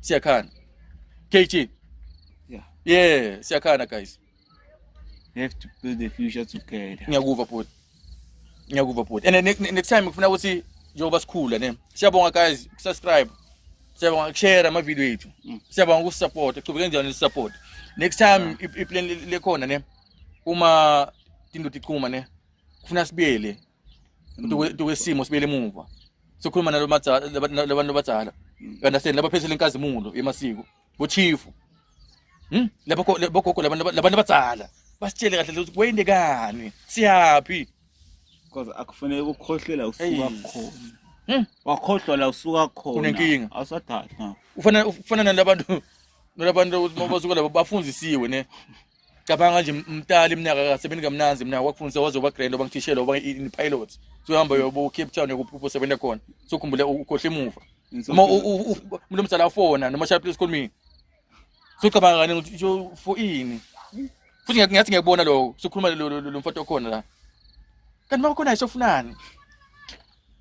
Siyakhana. KG. Yeah. Yeah, siyakhana guys. We have to build the future together. Ngiyakuva bhuti. Ngiyakuva bhuti. And next, next time ngifuna ukuthi njengoba sikhula ne. Siyabonga guys, subscribe. Siyabonga share ama video ethu. Mm. Siyabonga ku support. Qhubeka njalo ni support. Next time i plan lekhona ne. Uma tinto tichuma ne. Kufuna sibiyele. uthi kwesimo sibele emuva sokhuluma nalabantu abadala understand labaphethela inkazimulo yemasiko bochifu hmm? labogogo labantu abadala basitshele kahle ukuthi kwendekani siyaphi because akufanele ukukhohlela usuka khona hmm? wakhohlwa la usuka khona unenkinga awusadala ufana ufana nalabantu nalabantu ukuthi mabasuka labo bafundisiwe ne cabanga nje mtali mina akasebenzi kamnanzi mina wakufundisa waze uba grand oba ngithishela oba in pilot so hamba yobo Cape Town yokuphupho sebenza khona so khumbule ukhohle emuva uma umuntu omdala ufona noma shaya please call me so cabanga kani ukuthi for ini futhi ngiyathi ngiyakubona lokho sokhuluma lo mfowethu okhona la kanti makukhona isofunani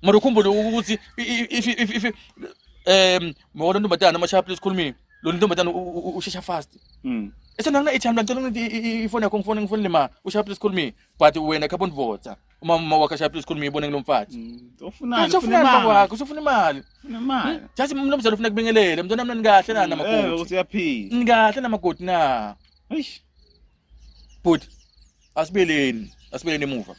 Mara ukhumbule ukuthi if if if um mawona ntombazana amashaya please call me. Lo ntombazana ushesha fast. Mm. Esena ngina ichamba ngicela ukuthi ifone yakho ngifone ngifone lema ushaya please call me but wena khapha undivotsa. Uma uma wakhe shaya please call me ibone ngilomfathi. Mm, ufunani? Ufuna imali wakho, usufuna imali. Ufuna imali. Hmm? Just mnumzane ufuna kubingelele. Mntwana mina nikahle na mm, namakoti. Eh uyaphila. Nikahle namakoti na. Eish. Bhuti, asibeleni, asibeleni emuva.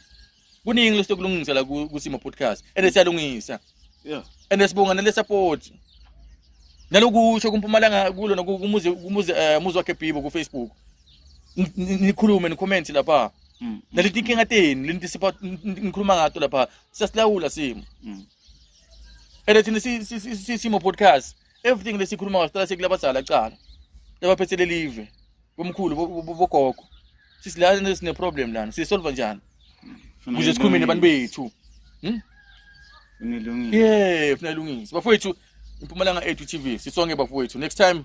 Kuningi lesokulungisela ku- kusimo podcast. Ende siyalungisa. Yeah. Ende sibonga nale support. Nalokusho kumpumalanga kulo nokumuzi kumuzi eh, muzi wakhe Bibo ku Facebook. Ni- ni- Nikhulume ni comment lapha. Mm. Naleti inkinga tenu, lenti sipa ngikhuluma ngato lapha. Siyasilawula simo. Mm. Ende thina si- si- si- si- simo podcast. everything lesikhuluma ngaso siqala sekulabazala cala labaphethe lelive bomkhulu bogogo sisi lana sine problem lana sisolve njani kuze sikhume nabantu bethu hm unelungile yeah funa ilungise bafowethu impumalanga ethu tv sisonke bafowethu next time